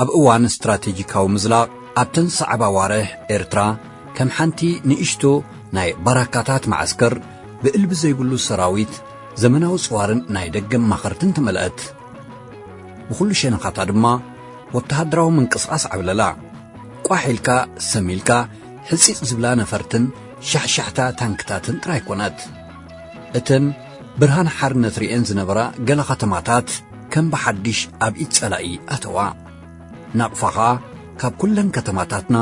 ኣብ እዋን ስትራቴጂካዊ ምዝላቕ ኣብተን ዝሰዕባ ኣዋርሕ ኤርትራ ከም ሓንቲ ንእሽቶ ናይ ባራካታት መዓስከር ብእልቢ ዘይብሉ ሰራዊት ዘመናዊ ጽዋርን ናይ ደገ ኣማኸርትን ተመልአት። ብኹሉ ሸነኻታ ድማ ወተሃደራዊ ምንቅስቓስ ዓብለላ። ቋሕ ኢልካ ሰም ኢልካ ሕጺጽ ዝብላ ነፈርትን ሻሕሻሕታ ታንክታትን ጥራይ ኮነት። እተን ብርሃን ሓርነት ርእየን ዝነበራ ገለ ከተማታት፣ ከም ብሓድሽ ኣብ ኢድ ጸላኢ ኣተዋ። ናቕፋ ኸኣ ካብ ኩለን ከተማታትና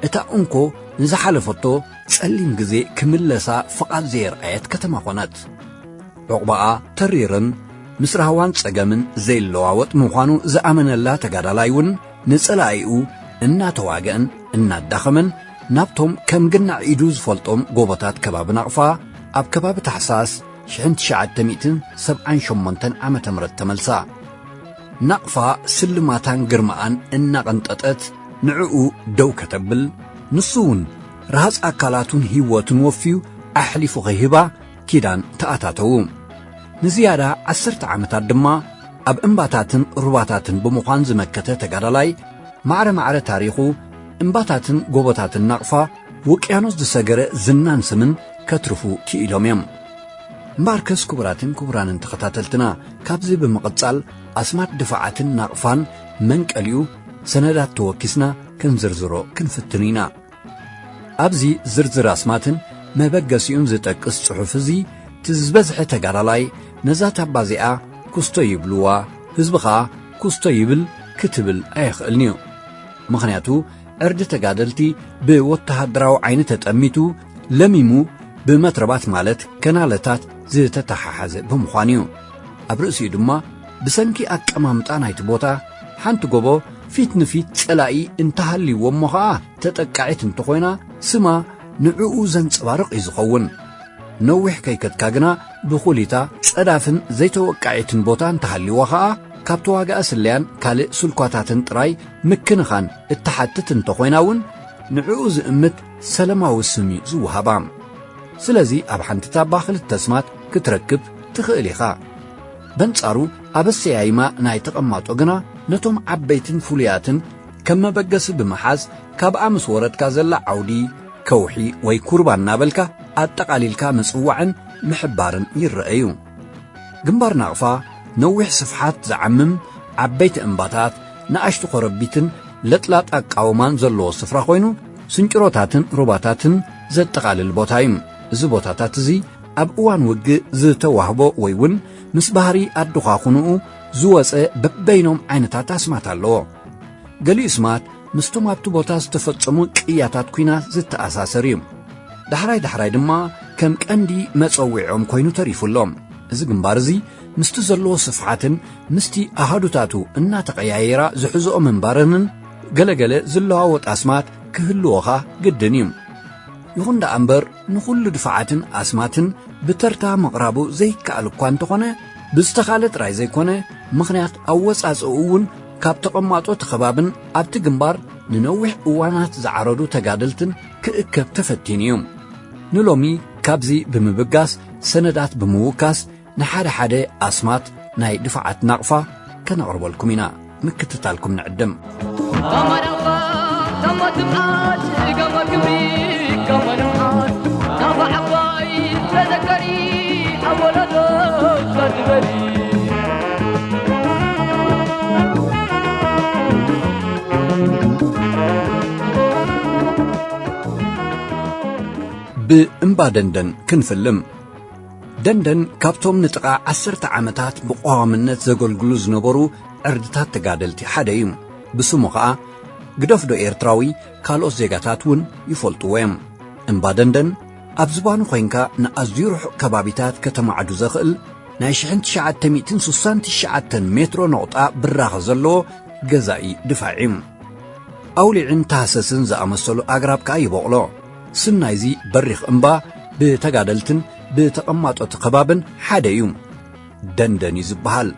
እታ እንኮ ንዝሓለፈቶ ጸሊም ግዜ ክምለሳ ፍቓድ ዘየርኣየት ከተማ ኾነት። ዑቕባኣ ተሪርን ምስ ራህዋን ጸገምን ዘይለዋወጥ ምዃኑ ዝኣመነላ ተጋዳላይ እውን ንጸላኢኡ እናተዋገእን እናዳኸመን ናብቶም ከም ግናዕ ኢዱ ዝፈልጦም ጎቦታት ከባቢ ናቕፋ ኣብ ከባቢ ታሕሳስ ሽሕን ትሽዓተ ሚእትን ሰብዓን ሸሞንተን ዓመተ ምህረት ተመልሳ። ናቕፋ ስልማታን ግርማኣን እናቐንጠጠት ንዕኡ ደው ከተብል፣ ንሱ'ውን ረሃጽ ኣካላቱን ህይወቱን ወፍዩ ኣሕሊፉ ኺህባ ኪዳን ተኣታተዉ። ንዝያዳ ዓሰርተ ዓመታት ድማ ኣብ እምባታትን ሩባታትን ብምዃን ዝመከተ ተጋዳላይ፣ ማዕረ ማዕረ ታሪኹ፣ እምባታትን ጎቦታትን ናቕፋ፣ ውቅያኖስ ዝሰገረ ዝናን ስምን ከትርፉ ክኢሎም እዮም። እምበኣርከስ ክቡራትን ክቡራንን ተኸታተልትና ካብዚ ብምቕጻል ኣስማት ድፋዓትን ናቕፋን መንቀሊኡ ሰነዳት ተወኪስና ክንዝርዝሮ ክንፍትን ኢና። ኣብዚ ዝርዝር ኣስማትን መበገሲኡን ዝጠቅስ ጽሑፍ እዚ እቲ ዝበዝሐ ተጋዳላይ ነዛ ታባ እዚኣ ኩስቶ ይብልዋ ህዝቢ ከኣ ኩስቶ ይብል ክትብል ኣየኽእልን'ዩ። ምኽንያቱ ዕርዲ ተጋደልቲ ብወተሃደራዊ ዓይኒ ተጠሚቱ ለሚሙ ብመትረባት ማለት ከናለታት ዝተተሓሓዘ ብምዃኑ እዩ ኣብ ርእሲኡ ድማ ብሰንኪ ኣቀማምጣ ናይቲ ቦታ ሓንቲ ጎቦ ፊት ንፊት ጸላኢ እንተሃልይዎ እሞ ኸኣ ተጠቃዒት እንተኾይና ስማ ንዕኡ ዘንጸባርቕ እዩ ዝኸውን ነዊሕ ከይከትካ ግና ብኹሊታ ጸዳፍን ዘይተወቃዒትን ቦታ እንተሃልይዋ ኸኣ ካብ ተዋጋኢ ስለያን ካልእ ስልኳታትን ጥራይ ምክንኻን እትሓትት እንተኾይና እውን ንዕኡ ዝእምት ሰለማዊ ስም እዩ ዝወሃባ። ስለዚ ኣብ ሓንቲ ታባ ክልተ ስማት ክትረክብ ትኽእል ኢኻ። በንጻሩ ኣብ ኣሰያይማ ናይ ተቐማጦ ግና ነቶም ዓበይትን ፍሉያትን ከም መበገሲ ብምሓዝ ካብኣ ምስ ወረድካ ዘላ ዓውዲ፣ ከውሒ ወይ ኩርባ እናበልካ ኣጠቓሊልካ ምጽዋዕን ምሕባርን ይረኣዩ። ግንባር ናቕፋ ነዊሕ ስፍሓት ዝዓምም ዓበይቲ እምባታት፣ ንኣሽቱ ኮረቢትን ለጥላጥ ኣቃውማን ዘለዎ ስፍራ ኮይኑ፣ ስንጭሮታትን ሩባታትን ዘጠቓልል ቦታ እዩ። እዚ ቦታታት እዚ ኣብ እዋን ውግእ ዝተዋህቦ ወይ ውን ምስ ባህሪ ኣዱኻኹንኡ ዝወጸ በበይኖም ዓይነታት ኣስማት ኣለዎ። ገሊኡ ስማት ምስቶም ኣብቲ ቦታ ዝተፈጸሙ ቅያታት ኲናት ዝተኣሳሰር እዩ። ዳሕራይ ዳሕራይ ድማ ከም ቀንዲ መጸዊዖም ኮይኑ ተሪፉ ኣሎ። እዚ ግንባር እዚ ምስቲ ዘለዎ ስፍሓትን ምስቲ ኣሃዱታቱ እናተቐያየራ ዝሕዝኦ ምንባረንን ገለ ገለ ዝለዋወጥ ኣስማት ክህልዎኻ ግድን እዩ። ይኹን ደኣ እምበር ንኹሉ ድፋዓትን ኣስማትን ብተርታ ምቕራቡ ዘይከኣል እኳ እንተኾነ ብዝተኻለ ጥራይ ዘይኮነ ምኽንያት ኣወጻጽእኡ እውን ካብ ተቐማጦ እቲ ከባብን ኣብቲ ግንባር ንነዊሕ እዋናት ዝዓረዱ ተጋደልትን ክእከብ ተፈቲኑ እዩ ንሎሚ ካብዚ ብምብጋስ ሰነዳት ብምውካስ ንሓደ ሓደ ኣስማት ናይ ድፋዓት ናቕፋ ከነቕርበልኩም ኢና ምክትታልኩም ንዕድም ብእምባ ደንደን ክንፍልም ደንደን ካብቶም ንጥቓ ዓሰርተ ዓመታት ብቐዋምነት ዘገልግሉ ዝነበሩ ዕርድታት ተጋደልቲ ሓደ እዩ። ብስሙ ኸኣ ግደፍዶ ኤርትራዊ ካልኦት ዜጋታት እውን ይፈልጥዎ እዮም። እምባ ደንደን ኣብ ዝባኑ ኮይንካ ንኣዝዩ ርሑቕ ከባቢታት ከተማዕዱ ዘኽእል ናይ ሽሕን ትሽዓተ ሚእትን ስሳን ትሽዓተን ሜትሮ ነቑጣ ብራኸ ዘለዎ ገዛኢ ድፋዕ እዩ። ኣውሊዕን ታህሰስን ዝኣመሰሉ ኣግራብ ከኣ ይበቑሎ። ስም ናይዚ በሪኽ እምባ ብተጋደልትን ብተቐማጦቲ ከባብን ሓደ እዩ። ደንደን እዩ ዝበሃል።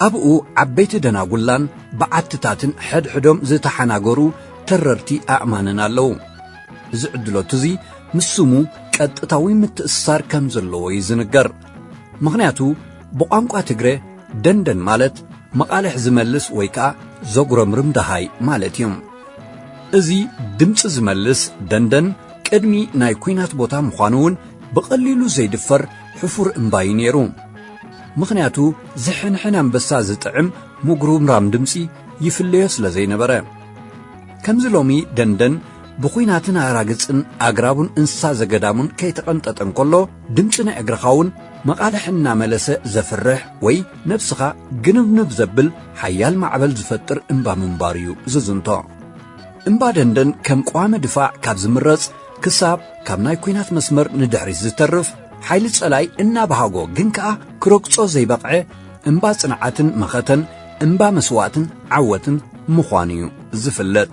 ኣብኡ ዓበይቲ ደናጉላን በዓትታትን ሕድሕዶም ዝተሓናገሩ ተረርቲ ኣእማንን ኣለዉ። እዚ ዕድሎት እዚ ምስ ስሙ ቀጥታዊ ምትእስሳር ከም ዘለዎ እዩ ዝንገር። ምኽንያቱ ብቋንቋ ትግረ ደንደን ማለት መቓልሕ ዝመልስ ወይ ከኣ ዘጉረምርም ደሃይ ማለት እዩ። እዚ ድምፂ ዝመልስ ደንደን ቅድሚ ናይ ኩናት ቦታ ምዃኑ እውን ብቐሊሉ ዘይድፈር ሕፉር እምባ እዩ ነይሩ ምኽንያቱ ዝሕንሕን ኣንበሳ ዝጥዕም ምጉርምራም ድምፂ ይፍለዮ ስለ ዘይነበረ ከምዚ ሎሚ ደንደን ብኹናትን ኣራግፅን ኣግራቡን እንስሳ ዘገዳሙን ከይተቐንጠጠ እንከሎ ድምጺ ናይ እግርኻ እውን መቓልሕ እናመለሰ ዘፍርሕ ወይ ነብስኻ ግንብንብ ዘብል ሓያል ማዕበል ዝፈጥር እምባ ምንባሩ እዩ ዝዝንቶ። እምባ ደንደን ከም ቀዋሚ ድፋዕ ካብ ዝምረጽ ክሳብ ካብ ናይ ኲናት መስመር ንድሕሪት ዝተርፍ ሓይሊ ጸላኢ እናበሃጎ ግን ከኣ ክረግጾ ዘይበቕዐ እምባ ጽንዓትን መኸተን እምባ መስዋእትን ዓወትን ምዃኑ እዩ ዝፍለጥ።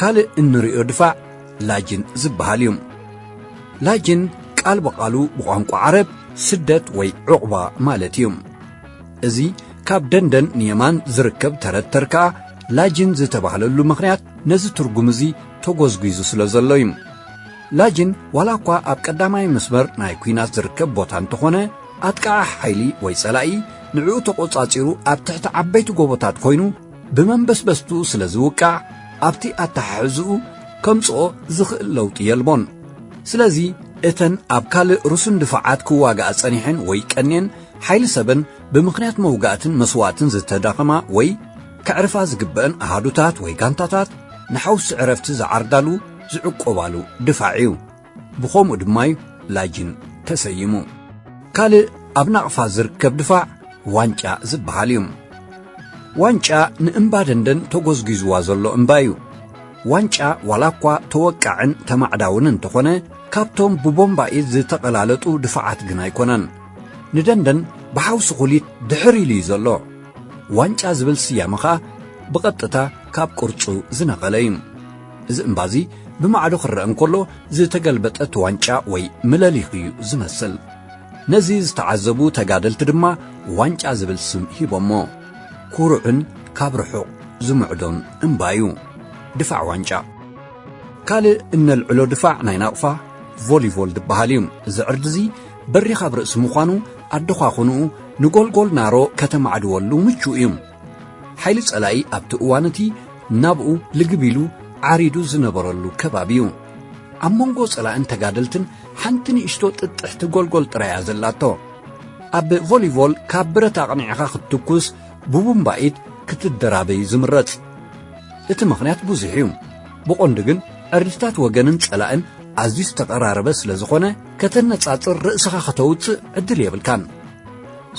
ካልእ እንርእዮ ድፋዕ ላጅን ዝበሃል እዩ። ላጅን ቃል ብቓሉ ብቋንቋ ዓረብ ስደት ወይ ዑቕባ ማለት እዩ። እዚ ካብ ደንደን ንየማን ዝርከብ ተረት ተር ከኣ ላጅን ዝተባህለሉ ምኽንያት ነዚ ትርጉም እዚ ተጎዝጒዙ ስለ ዘሎ እዩ። ላጅን ዋላ እኳ ኣብ ቀዳማይ መስመር ናይ ኲናት ዝርከብ ቦታ እንተኾነ ኣጥቃዒ ሓይሊ ወይ ጸላኢ ንዕኡ ተቖጻጺሩ ኣብ ትሕቲ ዓበይቲ ጎቦታት ኮይኑ ብመንበስበስቱ ስለ ዝውቃዕ ኣብቲ ኣተሓሕዝኡ ከምጽኦ ዝኽእል ለውጢ የልቦን ስለዚ እተን ኣብ ካልእ ርሱን ድፋዓት ክዋጋኣ ጸኒሐን ወይ ቀንየን ሓይሊ ሰበን ብምኽንያት መውጋእትን መስዋእትን ዝተዳኸማ ወይ ከዕርፋ ዝግበእን ኣሃዱታት ወይ ጋንታታት ንሓውሲ ዕረፍቲ ዝዓርዳሉ ዝዕቆባሉ ድፋዕ እዩ ብኸምኡ ድማዩ ላጅን ተሰይሙ። ካልእ ኣብ ናቕፋ ዝርከብ ድፋዕ ዋንጫ ዝበሃል እዩ። ዋንጫ ንእምባደንደን ተጎዝጒዝዋ ዘሎ እምባ እዩ። ዋንጫ ዋላ እኳ ተወቃዕን ተማዕዳውን እንተኾነ ካብቶም ብቦምባኢት ዝተቐላለጡ ድፋዓት ግን ኣይኮነን። ንደንደን ብሓውሲ ኩሊት ድሕር ኢሉ እዩ ዘሎ። ዋንጫ ዝብል ስያመ ኸኣ ብቐጥታ ካብ ቅርጹ ዝነቐለ እዩ። እዚ እምባዚ ብማዕዶ ክረአ እንከሎ ዝተገልበጠት ዋንጫ ወይ ምለሊኽ እዩ ዝመስል። ነዚ ዝተዓዘቡ ተጋደልቲ ድማ ዋንጫ ዝብል ስም ሂቦሞ። ኩሩዕን ካብ ርሑቕ ዝምዕዶን እምባ እዩ ድፋዕ ዋንጫ። ካልእ እነልዕሎ ድፋዕ ናይ ናቕፋ ቮሊቮል ዝበሃል እዩ። እዚ ዕርዲዚ በሪኽ ኣብ ርእሲ ምዃኑ ኣደዃኹንኡ ንጎልጎል ናሮ ከተማዕድወሉ ምቹእ እዩ። ሓይሊ ጸላኢ ኣብቲ እዋን እቲ ናብኡ ልግብ ኢሉ ዓሪዱ ዝነበረሉ ከባቢ እዩ ኣብ መንጎ ጸላእን ተጋደልትን ሓንቲ ንእሽቶ ጥጥሕቲ ጎልጎል ጥራያ ዘላቶ ኣብ ቮሊቮል ካብ ብረት ኣቕኒዕኻ ክትትኩስ ብቡምባኢት ክትደራበዩ ዝምረጽ እቲ ምኽንያት ብዙሕ እዩ ብቖንዲ ግን ዕርድታት ወገንን ጸላእን ኣዝዩ ዝተቐራረበ ስለ ዝኾነ ከተነጻጽር ርእስኻ ከተውጽእ ዕድል የብልካን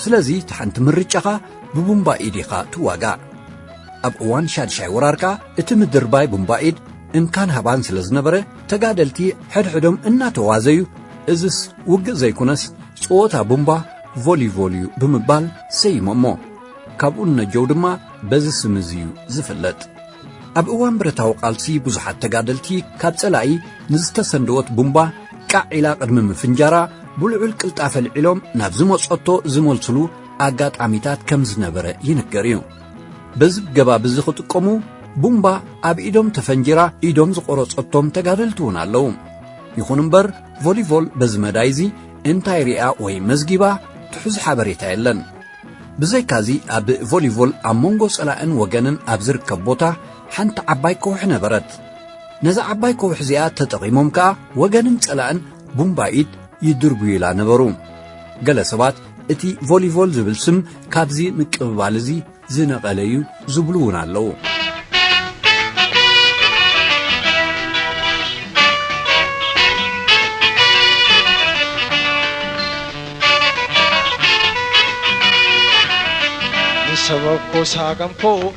ስለዚ እቲ ሓንቲ ምርጫኻ ብቡምባ ኢድ ኢኻ ትዋጋእ። ኣብ እዋን ሻድሻይ ወራር ከኣ እቲ ምድርባይ ቡምባ ኢድ እንካን ሃባን ስለ ዝነበረ ተጋደልቲ ሕድሕዶም እናተዋዘዩ እዝስ ውግእ ዘይኩነስ ጸወታ ቡምባ፣ ቮሊቮል፣ እዩ ብምባል ሰይሞሞ። ካብኡ ንነጀው ድማ በዚ ስም እዚ እዩ ዝፍለጥ። ኣብ እዋን ብረታዊ ቃልሲ ብዙሓት ተጋደልቲ ካብ ጸላኢ ንዝተሰንደወት ቡምባ ቃዕ ኢላ ቅድሚ ምፍንጃራ ብልዑል ቅልጣፈ ልዒሎም ናብ ዝመጸቶ ዝመልስሉ ኣጋጣሚታት ከም ዝነበረ ይንገር እዩ። በዚ ገባብ እዚ ክጥቀሙ ቡምባ ኣብ ኢዶም ተፈንጂራ ኢዶም ዝቖረጸቶም ተጋደልቲ እውን ኣለዉ። ይኹን እምበር ቮሊቮል በዚ መዳይ እዚ እንታይ ሪኣ ወይ መዝጊባ ትሑዝ ሓበሬታ የለን። ብዘይካዚ ኣብ ቮሊቮል ኣብ መንጎ ጸላእን ወገንን ኣብ ዝርከብ ቦታ ሓንቲ ዓባይ ከውሒ ነበረት። ነዛ ዓባይ ከውሒ እዚኣ ተጠቒሞም ከኣ ወገንን ጸላእን ቡምባ ኢድ ይድርብዩላ ነበሩ። ገለ ሰባት እቲ ቮሊቮል ዝብል ስም ካብዚ ምቅብባል እዚ ዝነቐለ እዩ ዝብሉ እውን ኣለዉ። ሰበኮ ሳገምኮ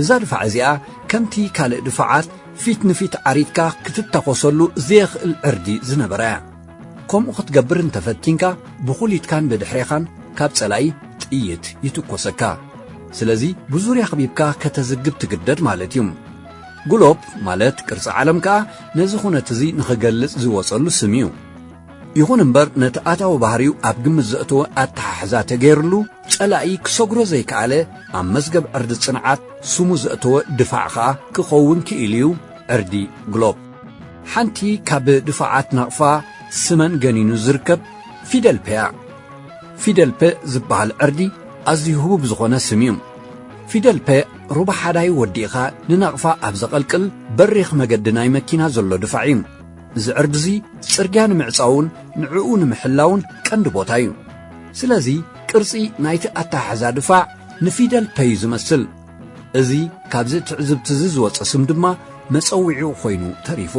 እዛ ድፋዕ እዚኣ ከምቲ ካልእ ድፋዓት ፊት ንፊት ዓሪድካ ክትታኾሰሉ ዘየኽእል ዕርዲ ዝነበራ እያ። ከምኡ ክትገብር እንተ ፈቲንካ ብኹሊትካን ብድሕሬኻን ካብ ጸላኢ ጥይት ይትኮሰካ። ስለዚ ብዙርያ ክቢብካ ከተዝግብ ትግደድ ማለት እዩ። ግሎፕ ማለት ቅርጺ ዓለም ከኣ ነዚ ኩነት እዚ ንኽገልጽ ዝወጸሉ ስም እዩ። ይኹን እምበር ነቲ ኣታዊ ባህሪው ኣብ ግምት ዘእተወ ኣተሓሕዛ ተገይርሉ ጸላኢ ክሰግሮ ዘይከኣለ ኣብ መዝገብ ዕርዲ ጽንዓት ስሙ ዘእተወ ድፋዕ ከኣ ክኸውን ክኢሉ'ዩ ዕርዲ ግሎብ። ሓንቲ ካብ ድፋዓት ናቕፋ ስመን ገኒኑ ዝርከብ ፊደል ፐ'ያ። ፊደል ፐ ዝበሃል ዕርዲ ኣዝዩ ህቡብ ዝኾነ ስም'ዩ። ፊደል ፐ ሩባ ሓዳይ ወዲእኻ ንናቕፋ ኣብ ዘቐልቅል በሪኽ መገዲ ናይ መኪና ዘሎ ድፋዕ'ዩ። እዚ ዕርዲ'ዚ ጽርግያ ንምዕጻውን ንዕኡ ንምሕላውን ቀንዲ ቦታ እዩ። ስለዚ ቅርጺ ናይቲ ኣተሓሕዛ ድፋዕ ንፊደል ፐ'ዩ ዝመስል። እዚ ካብዚ ትዕዝብቲ'ዚ ዝወጸ ስም ድማ መጸዊዒኡ ኮይኑ ተሪፉ።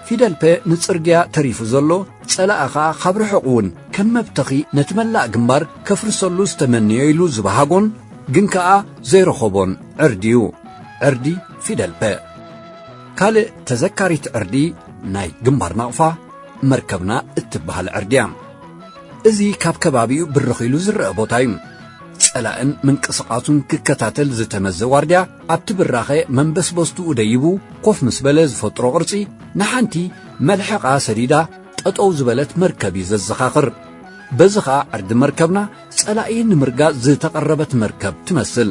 ፊደል ፐ ንጽርግያ ተሪፉ ዘሎ ጸላኢ ከኣ ካብ ርሑቕ እውን ከም መብተኺ ነቲ መላእ ግንባር ከፍርሰሉ ዝተመነዮ ኢሉ ዝበሃጎን ግን ከኣ ዘይረኸቦን ዕርዲ'ዩ። ዕርዲ ፊደል ፐ። ካልእ ተዘካሪት ዕርዲ ናይ ግንባር ናቕፋ መርከብና እትበሃል ዕርዲ እያ። እዚ ካብ ከባቢኡ ብርኽ ኢሉ ዝረአ ቦታ እዩ። ጸላእን ምንቅስቓሱን ክከታተል ዝተመዘ ዋርድያ ኣብቲ ብራኸ መንበስበስትኡ ደይቡ ኮፍ ምስ በለ ዝፈጥሮ ቅርጺ ንሓንቲ መልሕቓ ሰዲዳ ጠጠው ዝበለት መርከብ እዩ ዘዘኻኽር። በዚ ኸኣ ዕርዲ መርከብና ጸላኢ ንምርጋጽ ዝተቐረበት መርከብ ትመስል።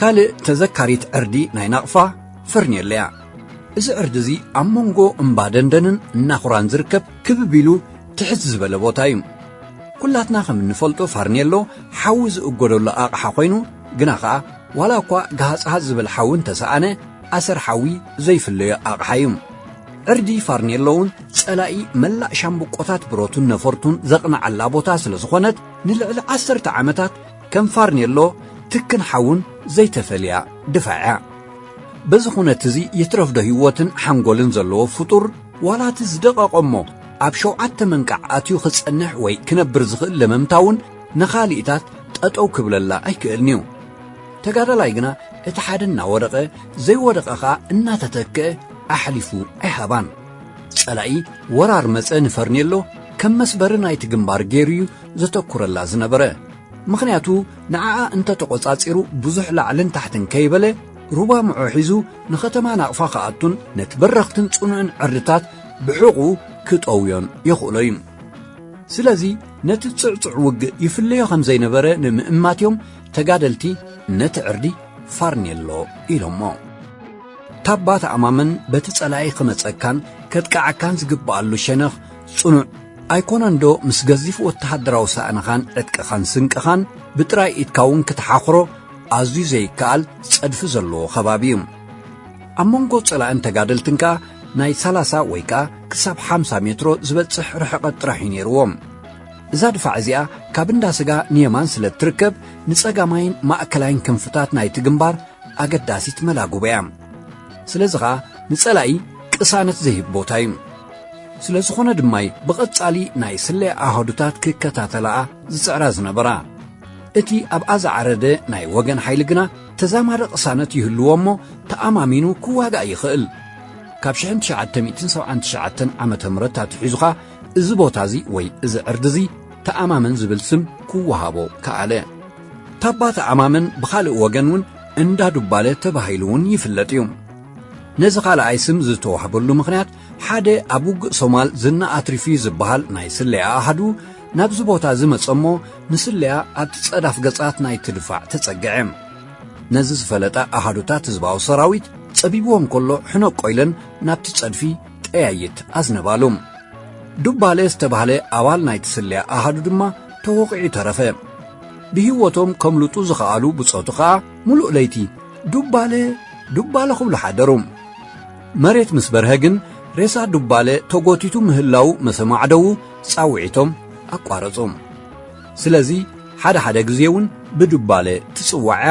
ካልእ ተዘካሪት ዕርዲ ናይ ናቕፋ ፈርኔሎ እያ እዚ ዕርዲ እዚ ኣብ መንጎ እምባ ደንደንን እናኹራን ዝርከብ ክብብ ኢሉ ትሕት ዝበለ ቦታ እዩ ኩላትና ከም እንፈልጦ ፋርኔሎ ሓዊ ዝእጎደሉ ኣቕሓ ኮይኑ ግና ኸዓ ዋላ እኳ ገሃፅሃፅ ዝብል ሓዊ እንተሰኣነ ኣሰር ሓዊ ዘይፍለዮ ኣቕሓ እዩ ዕርዲ ፋርኔሎ እውን ጸላኢ መላእ ሻምብቆታት ብረቱን ነፈርቱን ዘቕንዓላ ቦታ ስለ ዝኾነት ንልዕሊ ዓሰርተ ዓመታት ከም ፋርኔሎ ትክን ሓውን ዘይተፈልያ ድፋዕ እያ በዚ ኹነት እዚ ይትረፍዶ ህይወትን ሓንጎልን ዘለዎ ፍጡር ዋላ እቲ ዝደቐቐ እሞ ኣብ ሸውዓተ መንቃዕ ኣትዩ ክጸንሕ ወይ ክነብር ዝኽእል ለመምታ እውን ንኻሊእታት ጠጠው ክብለላ ኣይክእልን እዩ ተጋዳላይ ግና እቲ ሓደ እናወደቐ ዘይወደቐ ኸኣ እናተተክአ ኣሕሊፉ ኣይሃባን። ጸላኢ ወራር መጸ ንፈርኔሎ ከም መስበሪ ናይቲ ግንባር ገይሩ እዩ ዘተኩረላ ዝነበረ። ምኽንያቱ ንዓኣ እንተ ተቖጻጺሩ ብዙሕ ላዕልን ታሕትን ከይበለ ሩባ ምዖ ሒዙ ንኸተማ ናቕፋ ክኣቱን ነቲ በረኽትን ጽኑዕን ዕርድታት ብሕቝኡ ክጠውዮን የኽእሎ እዩ። ስለዚ ነቲ ጽዕጹዕ ውግእ ይፍለዮ ከም ዘይነበረ ንምእማት እዮም ተጋደልቲ ነቲ ዕርዲ ፋርኔሎ ኢሎሞ። ታባ ተኣማመን በቲ ጸላኢ ክመጸካን ከጥቅዓካን ዝግብኣሉ ሸነኽ ጽኑዕ ኣይኮነንዶ ምስ ገዚፍ ወተሃደራዊ ሳእንኻን ዕጥቅኻን ስንቅኻን ብጥራይ ኢድካ እውን ክትሓኽሮ ኣዝዩ ዘይከኣል ጸድፊ ዘለዎ ከባቢ እዩ ኣብ መንጎ ጸላእን ተጋደልትን ከኣ ናይ ሰላሳ ወይ ከኣ ክሳብ ሓምሳ ሜትሮ ዝበጽሕ ርሕቐት ጥራሕ እዩ ነይርዎም እዛ ድፋዕ እዚኣ ካብ እንዳ ስጋ ንየማን ስለ እትርከብ ንጸጋማይን ማእከላይን ክንፍታት ናይቲ ግንባር ኣገዳሲት መላግቦ እያ። ስለዚ ኸኣ ንጸላኢ ቅሳነት ዘይህብ ቦታ እዩ። ስለ ዝኾነ ድማ እዩ ብቐጻሊ ናይ ስለያ ኣሃዱታት ክከታተላኣ ዝጽዕራ ዝነበራ። እቲ ኣብኣ ዝዓረደ ናይ ወገን ሓይሊ ግና ተዛማዲ ቅሳነት ይህልዎ እሞ ተኣማሚኑ ክዋጋእ ይኽእል። ካብ ሽሕን ትሽዓተ ሚእትን ሰብዓን ትሽዓተን ዓመተ ምህረት ኣትሒዙ ኸኣ እዚ ቦታ እዚ ወይ እዚ ዕርዲ እዚ ተኣማመን ዝብል ስም ክወሃቦ ከኣለ። ታባተ ዓማመን ብኻልእ ወገን እውን እንዳ ዱባለ ተባሂሉ እውን ይፍለጥ እዩ። ነዚ ካልኣይ ስም ዝተዋህበሉ ምኽንያት ሓደ ኣብ ውግእ ሶማል ዝና ኣትሪፉ እዩ ዝበሃል ናይ ስለያ ኣሃዱ ናብዚ ቦታ እዚ መጸ እሞ ንስለያ ኣብቲ ጸዳፍ ገጻት ናይቲ ድፋዕ ተጸግዐ። ነዚ ዝፈለጣ ኣሃዱታት ህዝባዊ ሰራዊት ጸቢብዎም ከሎ ሕነቆ ኢለን ናብቲ ጸድፊ ጠያይት ኣዝነባሉ። ዱባለ ዝተባህለ ኣባል ናይቲ ስለያ ኣሃዱ ድማ ተወቒዑ ተረፈ። ብህይወቶም ከምልጡ ዝኸኣሉ ብጾቱ ኸኣ ምሉእ ለይቲ ዱባለ ዱባለ ክብሉ ሓደሩ። መሬት ምስ በርሀ ግን ሬሳ ዱባለ ተጎቲቱ ምህላው ምስ ኣማዕደዉ ጻውዒቶም ኣቋረጹ። ስለዚ ሓደ ሓደ ግዜ እውን ብዱባለ ትጽዋዕያ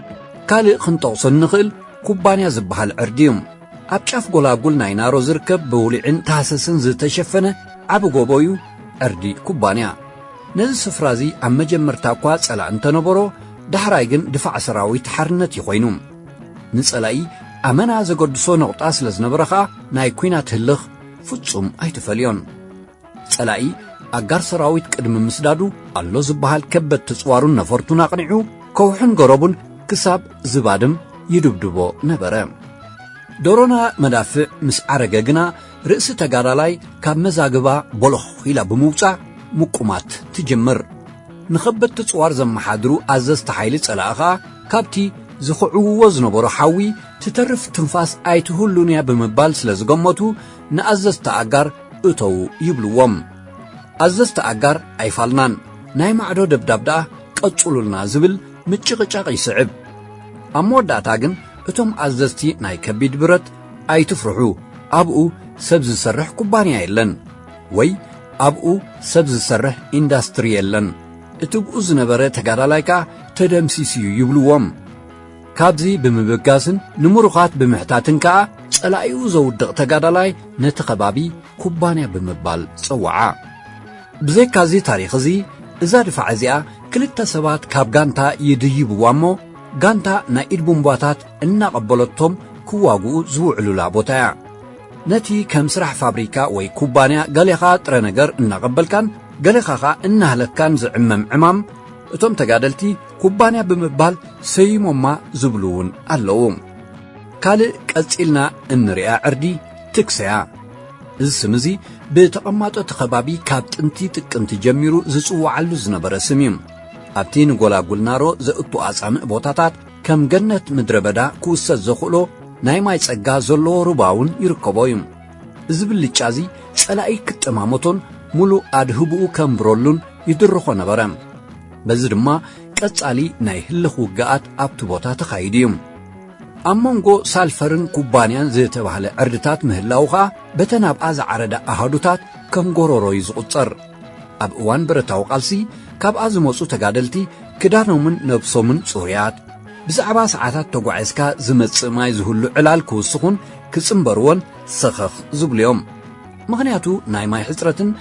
ካልእ ክንጠቕሶ እንኽእል ኩባንያ ዝበሃል ዕርዲ እዩ። ኣብ ጫፍ ጎላጉል ናይ ናሮ ዝርከብ ብውሊዕን ታህሰስን ዝተሸፈነ ዓቢ ጎቦ እዩ ዕርዲ ኩባንያ። ነዚ ስፍራ እዚ ኣብ መጀመርታ እኳ ጸላኢ እንተነበሮ ዳሕራይ ግን ድፋዕ ሰራዊት ሓርነት እዩ ኮይኑ። ንጸላኢ ኣመና ዘገድሶ ነቑጣ ስለ ዝነበረ ኸኣ ናይ ኲናት ህልኽ ፍጹም ኣይተፈልዮን። ጸላኢ ኣጋር ሰራዊት ቅድሚ ምስዳዱ ኣሎ ዝበሃል ከበድቲ ጽዋሩን ነፈርቱን ኣቕኒዑ ከውሕን ገረቡን ክሳብ ዝባድም ይድብድቦ ነበረ። ዶሮና መዳፍዕ ምስ ዓረገ ግና ርእሲ ተጋዳላይ ካብ መዛግባ ቦሎኽ ኢላ ብምውጻእ ምቁማት ትጅምር። ንኸበድቲ ጽዋር ዘመሓድሩ ኣዘዝቲ ሓይሊ ጸላኢ ኸኣ ካብቲ ዝኽዕውዎ ዝነበሩ ሓዊ ትተርፍ ትንፋስ ኣይትህሉን'ያ ብምባል ስለ ዝገመቱ ንኣዘዝቲ ኣጋር እተዉ ይብልዎም። ኣዘዝቲ ኣጋር ኣይፋልናን፣ ናይ ማዕዶ ደብዳብ ደኣ ቀጽሉልና ዝብል ምጭቕጫቕ ይስዕብ። ኣብ መወዳእታ ግን እቶም ኣዘዝቲ ናይ ከቢድ ብረት ኣይትፍርሑ ኣብኡ ሰብ ዝሰርሕ ኩባንያ የለን ወይ ኣብኡ ሰብ ዝሰርሕ ኢንዳስትሪ የለን፣ እቲብኡ ዝነበረ ተጋዳላይ ከኣ ተደምሲሱ'ዩ ይብልዎም። ካብዚ ብምብጋስን ንምሩኻት ብምሕታትን ከኣ ጸላኢኡ ዘውድቕ ተጋዳላይ ነቲ ከባቢ ኩባንያ ብምባል ጸውዓ። ብዘይካ እዚ ታሪኽ እዚ እዛ ድፋዕ እዚኣ ክልተ ሰባት ካብ ጋንታ ይድይብዋ እሞ ጋንታ ናይ ኢድ ቡምባታት እናቐበለቶም ክዋግኡ ዝውዕሉላ ቦታ እያ። ነቲ ከም ስራሕ ፋብሪካ ወይ ኩባንያ ገሌኻ ጥረ ነገር እናቐበልካን ገሌኻ ከኣ እናህለኽካን ዝዕመም ዕማም እቶም ተጋደልቲ ኩባንያ ብምባል ሰይሞማ ዝብሉ እውን ኣለዉ። ካልእ ቀጺልና እንሪኣ ዕርዲ ትክሰ'ያ። እዚ ስም እዚ ብተቐማጦ እቲ ከባቢ ካብ ጥንቲ ጥቅምቲ ጀሚሩ ዝጽውዓሉ ዝነበረ ስም እዩ። ኣብቲ ንጎላጉል ናሮ ዘእቱ ኣጻምእ ቦታታት ከም ገነት ምድረ በዳ ክውሰድ ዘኽእሎ ናይ ማይ ጸጋ ዘለዎ ሩባ እውን ይርከቦ እዩ። እዚ ብልጫ እዚ ጸላኢ ክጠማመቶን ምሉእ ኣድህቦኡ ከንብረሉን ይድርኾ ነበረ። በዚ ድማ ቀጻሊ ናይ ህልኽ ውግኣት ኣብቲ ቦታ ተኻይዱ እዩ። ኣብ መንጎ ሳልፈርን ኩባንያን ዝተባህለ ዕርድታት ምህላዉ ኸኣ በተን ኣብኣ ዝዓረዳ ኣሃዱታት ከም ጎረሮ እዩ ዝቝጸር። ኣብ እዋን ብረታዊ ቃልሲ ካብኣ ዝመጹ ተጋደልቲ ክዳኖምን ነብሶምን ጽሩያት፣ ብዛዕባ ሰዓታት ተጓዒዝካ ዝመጽእ ማይ ዝህሉ ዕላል ክውስኹን ክጽንበርዎን ሰኸኽ ዝብሉ እዮም። ምኽንያቱ ናይ ማይ ሕጽረትን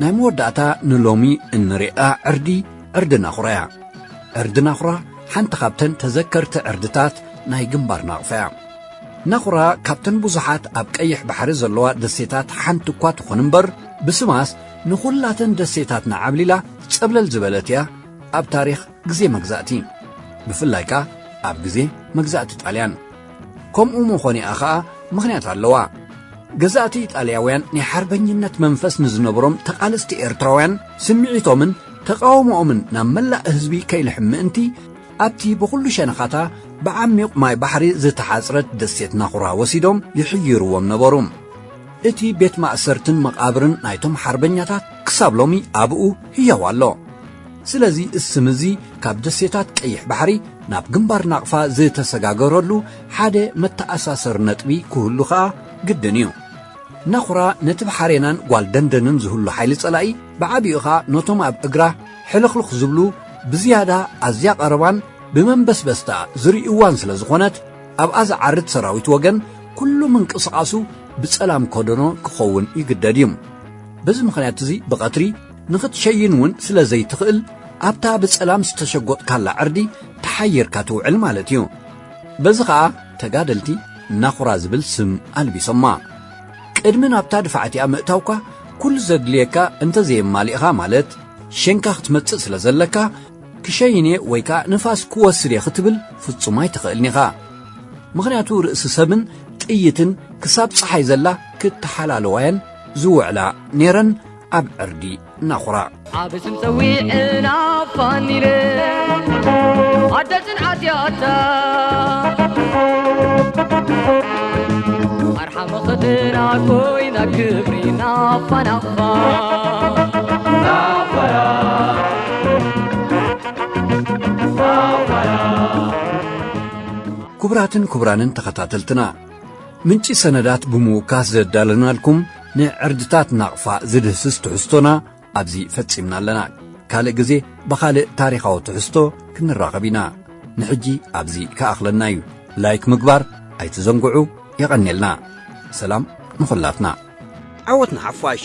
ናይ መወዳእታ ንሎሚ እንሪኣ ዕርዲ ዕርዲ ናኹራ'ያ። ዕርዲ ናኹራ ሓንቲ ካብተን ተዘከርቲ ዕርድታት ናይ ግንባር ናቕፋ'ያ። ናኹራ ካብተን ብዙሓት ኣብ ቀይሕ ባሕሪ ዘለዋ ደሴታት ሓንቲ'ኳ ትኹን'ምበር ብስማስ ንኹላተን ደሴታትና ዓብሊላ ጸብለል ዝበለት'ያ ኣብ ታሪኽ ግዜ መግዛእቲ ብፍላይ ከኣ ኣብ ግዜ መግዛእቲ ጣልያን። ከምኡ ምኾኒኣ ኸኣ ምኽንያት ኣለዋ። ገዛእቲ ኢጣልያውያን ናይ ሓርበኝነት መንፈስ ንዝነበሮም ተቓለስቲ ኤርትራውያን ስምዒቶምን ተቓውሞኦምን ናብ መላእ ህዝቢ ከይልሕም ምእንቲ ኣብቲ ብኹሉ ሸነኻታ ብዓሚዩቕ ማይ ባሕሪ ዝተሓጽረት ደሴት ናኹራ ወሲዶም ይሕይርዎም ነበሩ። እቲ ቤት ማእሰርትን መቓብርን ናይቶም ሓርበኛታት ክሳብ ሎሚ ኣብኡ ህያው ኣሎ። ስለዚ እስም እዚ ካብ ደሴታት ቀይሕ ባሕሪ ናብ ግንባር ናቕፋ ዝተሰጋገረሉ ሓደ መተኣሳሰሪ ነጥቢ ክህሉ ከኣ ግድን እዩ። ነኹራ ነቲ ብሓሬናን ጓል ደንደንን ዝህሉ ሓይሊ ጸላኢ ብዓቢኡ ከኣ ነቶም ኣብ እግራ ሕልኽልኽ ዝብሉ ብዝያዳ ኣዝያ ቀረባን ብመንበስበስታ ዝርእይዋን ስለ ዝኾነት ኣብኣ ዝዓርድ ሰራዊት ወገን ኩሉ ምንቅስቓሱ ብጸላም ከደኖ ክኸውን ይግደድ እዩ። በዚ ምኽንያት እዚ ብቐትሪ ንኽትሸይን እውን ስለ ዘይትኽእል ኣብታ ብጸላም ዝተሸጎጥካላ ዕርዲ ተሓይርካ ትውዕል ማለት እዩ በዚ ኸኣ ተጋደልቲ ናኹራ ዝብል ስም ኣልቢሶማ ቅድሚ ናብታ ድፋዕቲኣ ምእታውካ ኩሉ ዘድልየካ እንተዘየማሊእኻ ማለት ሸንካ ክትመጽእ ስለ ዘለካ ክሸይን እየ ወይ ከዓ ንፋስ ክወስድ እየ ክትብል ፍጹም ኣይትኽእልን ኢኻ ምኽንያቱ ርእሲ ሰብን ጥይትን ክሳብ ፀሓይ ዘላ ክተሓላለዋየን ዝውዕላ ነይረን ኣብ ዕርዲ ናኹራ ኣብ ስም ፀዊዕና ፋኒለ ኣደ ፅንዓት ያታ ኣርሓ መኸተና ኮይና ክብሪ ናፋናፋ ክቡራትን ክቡራንን ተኸታተልትና ምንጪ ሰነዳት ብምውካስ ዘዳለናልኩም ንዕርድታት ናቕፋ ዝድህስስ ትሕዝቶና ኣብዚ ፈጺምና ኣለና። ካልእ ግዜ ብኻልእ ታሪኻዊ ትሕዝቶ ክንራኸብ ኢና። ንሕጂ ኣብዚ ክኣኽለና እዩ። ላይክ ምግባር ኣይትዘንግዑ። የቐኔልና። ሰላም ንኹላትና። ዓወት ንሓፋሽ!